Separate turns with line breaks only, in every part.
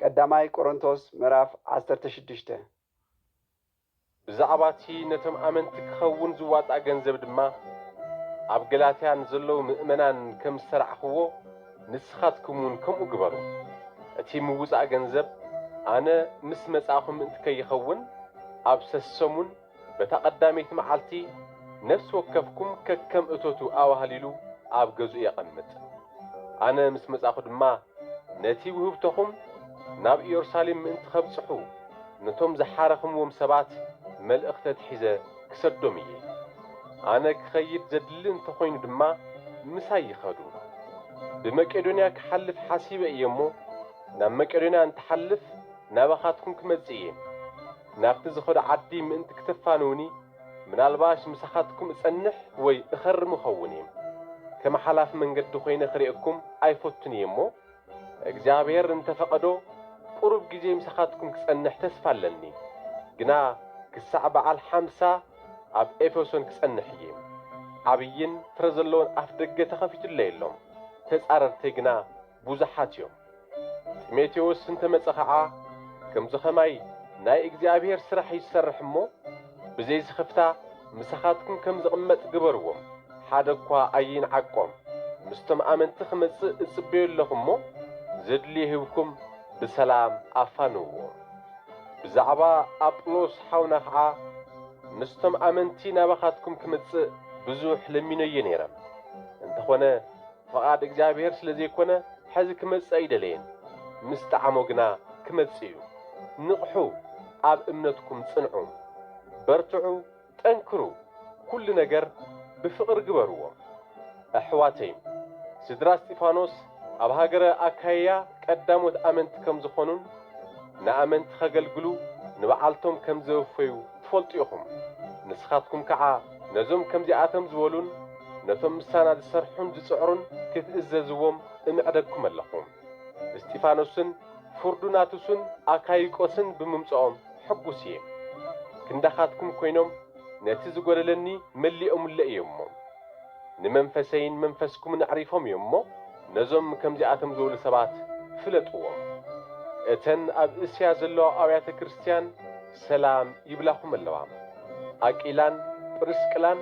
ቀዳማይ ቆሮንቶስ ምዕራፍ ዓሰርተ ሽዱሽተ።
ብዛዕባ እቲ ነቶም ኣመንቲ ኪኸውን ዚዋጻእ ገንዘብ ድማ፣ ኣብ ገላትያ ንዘለዉ ምእመናን ከም ዝሰርዕክዎ፣ ንስኻትኩምውን ከምኡ ግበሩ። እቲ ምውጻእ ገንዘብ፣ ኣነ ምስ መጻእኩ ምእንቲ ከይኸውን፣ ኣብ ሰሰሙን በታ ቀዳመይቲ መዓልቲ ነፍሲ ወከፍኩም ከከም እቶቱ ኣዋህሊሉ ኣብ ገዝኡ የቐምጥ። ኣነ ምስ መጻእኩ ድማ ነቲ ውህብቶኹም ናብ ኢዮርሳሌም ምእንቲ ኸብጽሑ፣ ነቶም ዝሓረኽምዎም ሰባት መልእኽቲ ኣትሒዘ ክሰዶም እየ። ኣነ ክኸይድ ዘድሊ እንተ ዀይኑ ድማ ምሳይ ይኸዱ። ብመቄዶንያ ክሓልፍ ሓሲበ እየ እሞ፣ ናብ መቄዶንያ እንትሓልፍ ናባኻትኩም ክመጽእ እየ። ናብቲ ዝኸዶ ዓዲ ምእንቲ ክተፋንዉኒ ምናልባሽ ምሳኻትኩም እጸንሕ ወይ እኸርም እኸውን እየ። ከም ሓላፊ መንገዲ ኮይነ ክርእየኩም ኣይፈቱን እየ እሞ፣ እግዚኣብሄር እንተ ፈቐዶ ቁሩብ ግዜ ምሳኻትኩም ክጸንሕ ተስፋ ኣለኒ። ግና ክሳዕ በዓል ሓምሳ ኣብ ኤፌሶን ክጸንሕ እየ። ዓብይን ፍረ ዘለዎን ኣፍደገ ተኸፊቱለይ ኣሎ፣ ተጻረርተይ ግና ብዙሓት እዮም። ጢሞቴዎስ እንተ መጸ ኸኣ ከምዚ ኸማይ ናይ እግዚኣብሄር ስራሕ እዩ ዝሰርሕ እሞ፣ ብዘይ ስኽፍታ ምሳኻትኩም ከም ዝቕመጥ ግበርዎም፣ ሓደ እኳ ኣይንዓቆም፣ ምስቶም ኣመንቲ ክመጽእ እጽበዮ ኣለኹ እሞ፣ ዘድልዮ ሂብኩም ብሰላም ኣፋንውዎ። ብዛዕባ ኣጵሎስ ሓውና ኸኣ ምስቶም ኣመንቲ ናባኻትኩም ክመጽእ ብዙሕ ለሚነዮ ነይረ፣ እንተ ኾነ፣ ፍቓድ እግዚኣብሄር ስለ ዘይኮነ ሕዚ ክመጽእ ኣይደለየን ምስ ጠዓሞ ግና ክመጽእ እዩ ንቕሑ ኣብ እምነትኩም ጽንዑ በርትዑ ጠንክሩ ኩሉ ነገር ብፍቕሪ ግበርዎ ኣሕዋተይን ስድራ እስጢፋኖስ ኣብ ሃገረ ኣካይያ ቀዳሞት ኣመንቲ ከም ዝኾኑን ንኣመንቲ ከገልግሉ ንብዓልቶም ከም ዘወፈዩ ትፈልጡ ኢኹም ንስኻትኩም ከዓ ነዞም ከምዚኣቶም ዝበሉን ነቶም ምሳና ዝሰርሑን ዝጽዕሩን ክትእዘዝዎም እምዕደኩም ኣለኹ። እስጢፋኖስን ፎርዱናቱስን ኣካይቆስን ብምምጽኦም ሕጉስ እየ። ክንዳኻትኩም ኮይኖም ነቲ ዝጎደለኒ መሊኦምለይ እዮም እሞ፣ ንመንፈሰይን መንፈስኩምን ኣዕሪፎም እዮም እሞ፣ ነዞም ከምዚኣቶም ዝበሉ ሰባት ፍለጥዎም። እተን ኣብ እስያ ዘለዋ ኣብያተ ክርስትያን፣ ሰላም ይብላኹም ኣለዋ። ኣቂላን ጵርስቅላን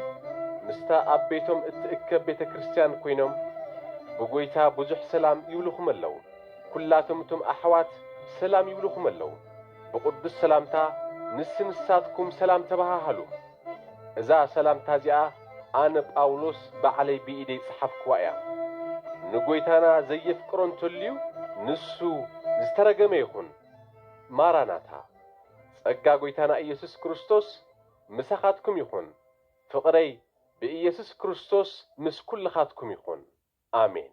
ምስታ ኣብ ቤቶም እትእከብ ቤተ ክርስቲያን ኮይኖም ብጎይታ ብዙሕ ሰላም ይብሉኹም ኣለዉ። ኩላቶም እቶም ኣሕዋት ሰላም ይብሉኹም ኣለዉ። ብቅዱስ ሰላምታ ንስ ንሳትኩም ሰላም ተባሃሃሉ። እዛ ሰላምታ እዚኣ ኣነ ጳውሎስ ባዕለይ ብኢደይ ዝጸሓፍክዋ እያ። ንጎይታና ዘየፍቅሮ እንተልዩ ንሱ ዝተረገመ ይኹን። ማራናታ። ጸጋ ጎይታና ኢየሱስ ክርስቶስ ምሳኻትኩም ይኹን ፍቕረይ ብኢየሱስ ክርስቶስ ምስ ኩልኻትኩም ይኹን ኣሜን።